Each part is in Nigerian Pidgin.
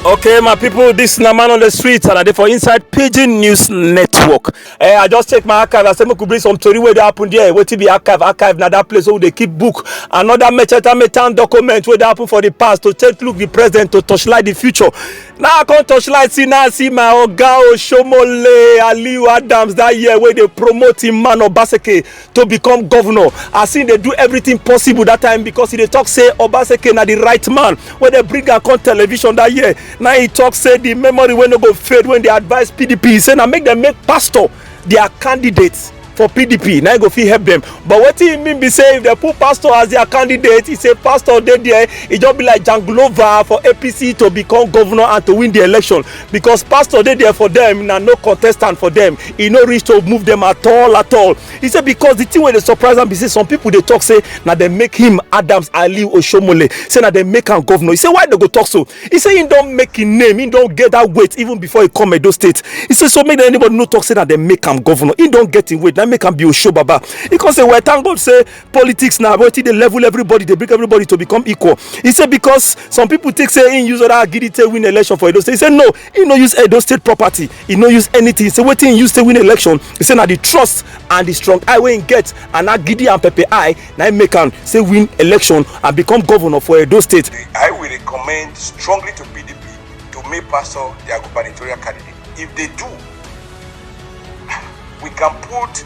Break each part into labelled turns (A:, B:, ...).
A: okay my people this na man on the street and i dey for inside pidgin news network eh i just take my archive i say make we bring some tori wey dey happen there wetin be archive archive na that place wey we dey keep book another mecheta metan document wey dey happen for the past to take look the present to torchlight the future now i come torchlight see now i see my oga osomole aliu adams that year wey dey promote him man obaseke to become governor as he dey do everything possible that time because he dey talk say obaseki na the right man wey dey bring am come television that year na he talk say the memory wey no go fade when dey advise pdp say na make dem make pastor their candidate for pdp na he go fit help them but wetin he mean be say if dem put pastor as their candidate he say pastor dey there e just be like janglova for apc to become governor and to win the election because pastor dey there for them na no contestant for them e no reach to move them at all at all he say because the thing wey dey surprise am be say some people dey talk say na dem make him adams aliu osomole say na dem make am governor he say why dem go talk so he say he don make him name he don get that weight even before he come edo state he say so make anybody no talk say na dem make am governor he don get him weight na make am be osobaba he come say well thank god say politics na wetin dey level everybody dey bring everybody to become equal He say because some people take say he use other agidi take win election for edo state He say no he no use edo state property He no use anything He say wetin he use take win election He say na the trust and the strong eye wey he get and agidi and pepper eye na him make am say win election and become governor for edo state. i will recommend
B: strongly to pdp to make pastor their gubernatorial candidate if they do we can put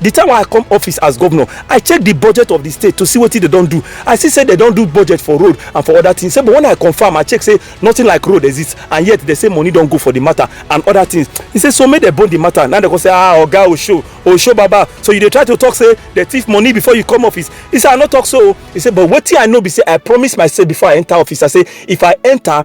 A: the time i come office as governor i check the budget of the state to see what they don't do i see say they don't do budget for road and for other things say but when i confirm i check say nothing like road exists and yet they say money don't go for the matter and other things he say so make they bone the matter now they go say ah oga osho osho baba so you dey try to talk say they thief money before you come office he say i no talk so he say but what i know be say i promise myself before i enter office i say if i enter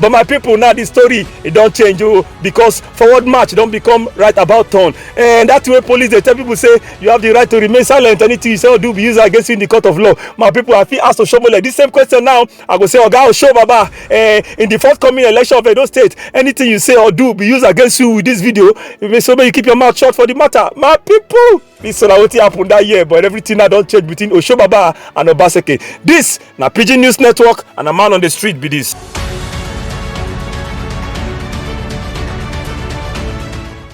B: but my people
A: now the story e don change o oh, because forward march don become right about turn and that way police dey tell people say you have the right to remain silent anything you say or do be used against you in the court of law my people i fit ask osomole this same question now i go say oga osho baba eh, in the forthcoming election of edo state anything you say or do be used against you with this video so make you keep your mouth shut for the matter my people. This na wetin happen that year but everything na don change between Oshobaba and Obaseke. This na Pidgin News Network and a man on the street be this.